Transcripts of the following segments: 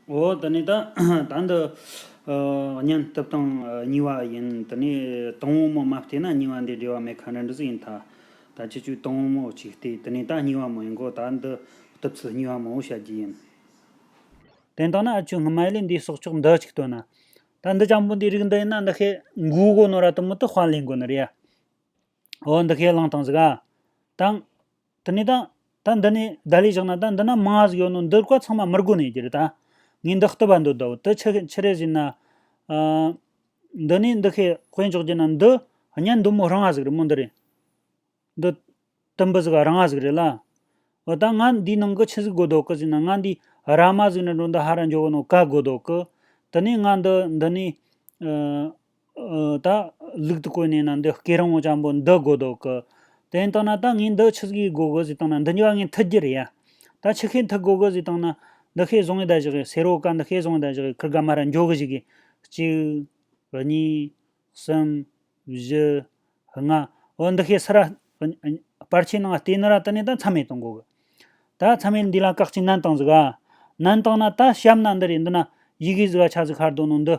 འོ་དེ་ནས་ད་ད་འདི་བརྙན་ཐུབ་དང་ཉེ་བ་ཡིན་དེ་ནས་དང་བོ་མོ་མ་བལྟས་ན་ཉེ་བ་འདི་འབྲེལ་བ་མེད་ཁ་ན་འགྲོ་ཟིག་ཡིན་ད་ད་ཁྱེད་ཆོས་དང་བོ་མོ་གཅིག་བལྟས་དེ་ནས་ད་ཉེ་བ་མོ་ཡིན་གོ་ད་འདི་བཏུབ་ཚུལ་ཉེ་བ་མང་བོ་བཤད་རྒྱུ་ཡིན། དེ་ལྟ་ན་ཨ་ཆོས་སྔ་མའི་ལས་འདིའི་གསོག་ཆོག་འདི་གཅིག་བཏོན་ན། ད་འདི་ལྕམ་པོ་འདིའི་རིགས་འདི་ཡིན་ན་འདི་ཤེས་མགོའི་སྒོ་ནོར་ར་དུ་མུ་ཏུ་དཔར་ལེན་དགོས་ནི་རེད་ཡ། འོ་འདི་ཁས་བླངས་དང་ཟིག་ཨ། དང། དེ་ནས་དང། ད་འདི་ནས་བརྡ་ལས་བཞག་ན་ད་འདི་ན་མང་བ་ཟིག་ཡོད་ནོ་འདིར་བཀའ་ཚང་མ་མི་དགོས་ནས་ཀྱི་རེད་ད། ངས་འདི་བསྟོད་པ་འདོད་དོ་དེ་ཕྱི་ཕྱི་རེ་བཞིན། འདི་ནས་འདི་ཤེས་དཔེ་འཇོག་རྒྱུ་ན་འདི། གཉེན་འདུན་མོ་རང་ང་ཟིག་རེད་མོ་འདི་རེད། འདི། དུམ་བུ་ཟིག་རང་ང་ཟིག་རེད་ལ། འོ་ད་ང་འདིའི་ནང་གི་ཆི་ཟིག་དགོས་དོ་ཀི་ཟིག་ན་ང་འདིའི་ར་མ་ཟིག་ན་འགྲོ་འདི་ཧ་ར་འཇོག་གི་ནོ་ཀ་དགོས་དོ་ཀི། དེ་ནས་ང་འདི་འདི་ནས། ད། ལུག་ཏུ་བཀོད་ནས་ན་འདི་སྐེ་རིང་བོ་ཅང་པོ་འདི་དགོས་འདོག་གི། དེ་ནས་བཏང་ན་ད་ངས་འདི་ཆུ་ཟིག་གིས་དགོས་གི་ཟིག་བཏང་ན་འདི་འགྱོ་བ་ངས་མཐུ་རྒྱུ་རེད་ཡ། ད་ཆུ་ཤེལ་མཐུག་དགོས་གི་ཟིག་བཏང་ན། འདི་ཤེལ་བཟང་གི་ཟླ་བཞག་གིས་ཟེར་རོ་ཀ་འདི་ཤེལ་བཟང་གི་ཟླ་བཞག་གིས་ཁུར་དགའ་མ་ར་འགྱོ་གི་ཟིག་གིས། གཅིག། གཉིས། གསུམ། བཞི། ལྔ། འོ་འདི་ཤེལ་སི་ར། སྤར་ཆའི་ནང་ལྟེ་ནི་ར་དེ་ནས་ད་མཚམས་མེད་བཏང་དགོས་གི། ད་མཚམས་མེད་འདི་ལ་བཀག་ཅིག་ནན་བཏང་ཟིག་ཨ། ནན་བཏང་ན་ད་ཞབས་ན་འདི་རེད་འདི་ན། ཡི་གེ་ཟིག་ག་ཆ་ཟིག་ཤར་འདུག་ནང་འདི།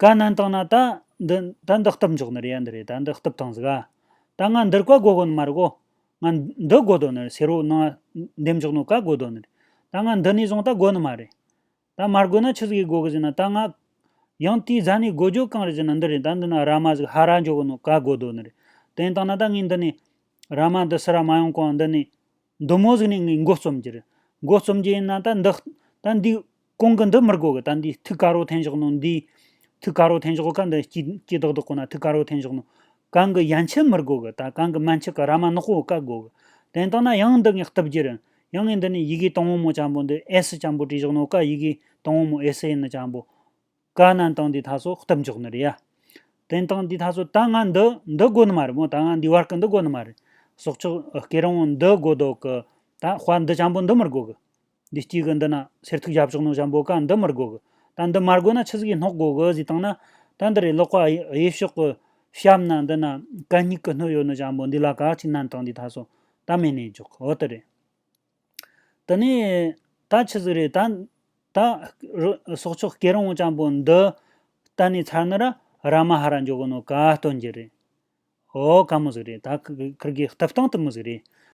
ག་ནན་བཏང་ན་ད། འདི་ད་འདི་སྟབས་མགྱོགས་ནི་རེད་ཡ་འདི་རེད་ད་འདི་སྟབས་ཐང་ཟིག་ཨ། ད་ང་འདིར་བཀའ་བསྒོ་དགོ་ནི་མ་རེད་གོ། ང། འདི་བསྒོ་དོ་ནི་རེད་ཟེར་རོ་ནང་ང། འདེམས་འཇོག་ནི་བཀའ་བསྒོ་དོ་ནི་རེད། ད་ང་འདི་ནས་བཟུང་ད་བསྒོ་ནི་མ་རེད། ད་མར་བསྒོས་ན་ཆི་ཟིག་གིས་བསྒོ་གི་ཟིག་ན་ད་ང། ཡང་དེའི་རྫ་ནས་བསྒོ་རྒྱུ་གང་རེད་ཟེར་ན་འདི་རེད་ད་འདི་ན་ར་མ་ཟིག་ཧ་ར་འཇོག་གི་ནི་བཀའ་བསྒོ་དོ་ནི་རེད། དེ་ནས་བཏང་ན་ད་ངས་འདི་ནས། ར་མ་འདི་སི་ར་མ་ཡོང་གོང་འདི་ནས། མདོ་མོ་གཟིགས་ནས་ངའི་མགོ་རྩོམ་གྱིར། མགོ་རྩོམ་གྱི་ཡིན་ན་ད་འདི། ད་འདི། གོང་གི་འདི་མི་དགོས་གི་ད་འདི་ཐུགས་དཀར་བོ་འཐེན་ཞོག་གནང་འདིའི། ཐུགས་དཀར་བོ་འཐེན་ཞོག་ག་འདི་སྐྱིད་སྐྱིད་དག་དག་ཁོ་ན་ཐུགས་དཀར་བོ་འཐེན་ཞོག་གནང། གང་གི་ཡན་ཆད་མི་དགོས་གི་ད་གང་གི་མན་ཆད་གི་ར་མ་ནག་པོ་ག་དགོས་གི། དེ་ལྟ་ན་ཡང་འདི་ངས་བཏུབ་གྱིར། ཡང་ངས་འདི་ནས་ཡི་གེ་དང་བོ་མོ་ལྕམ་པོ་འདི་ཨེ་སི་ལྕམ་པོ་བྲིས་ཞོག་གནང་ག་ཡི་གེ་དང་བོ་མོ་ཨེ་སི་ཡིན་ནི་ལྕམ་པོ། བཀའ་རྣམས་དང་འདི་དག་སོགས་གཏུབ་འཇོག་ནི་རེད་ཡ། དེང་དང་འདི་དག་སོགས་ད་ང་འདི་འདི་དགོ་ནི་མ་རེད་མོ་ད་ང་འདི་བར་གི་འདི་དགོ་ནི་མ་རེད། སོགས་ཆོག་སྐད་རང་དབང་འདི་དགོ་དོག་གི། ད་དཔའ་འདི་ཅང་པོ་འདི་མི་དགོ་གི། འདི་སྐྱིད་གི་འདི་ན་སེར་ཐུག་བཞབ་ཆོག་ནོ་ཞབ་འབོ་བཀའ་འདི་མི་དགོ་གི། ད་འདི་མ་དགོ་ན་ཆུ་ཟིག་གི་སྣོག་དགོ་གི་ཟིག་བཏང་ན། ད་འདི་རེད་ཀློག་པ་དབྱེ་ཕྱོགས་གི། ཞབ་ན་འདི་ན་བཀའ་སྙིག་གི་སྣོད་ཡོད་ནོ་ཞབ་འབོ་འདི་ལ་ག་ཅིག་ནན་དང་འདི་དག་སོགས་ད་མེད་ནས་འཇོག་ཨོ་དེ་རེད། དེ་ནས། ད་ཆི་ཟིག་རེད། ད། སྲོག་ཆགས་སྐྱེ་རིང་བོ་ལྕམ་པོ་འདི། གཏན་ནས་ཚར་ནི་ར་ར་མ་ཧ་ར་འཇོག་གི་ནོ་ག་སྟོན་གྱི་རེད། འོ་ག་མོ་ཟིག་རེད། ད་ཁིར་གིས་ལྟེབ་སྟངས་དུ་མོ་ཟིག་རེད།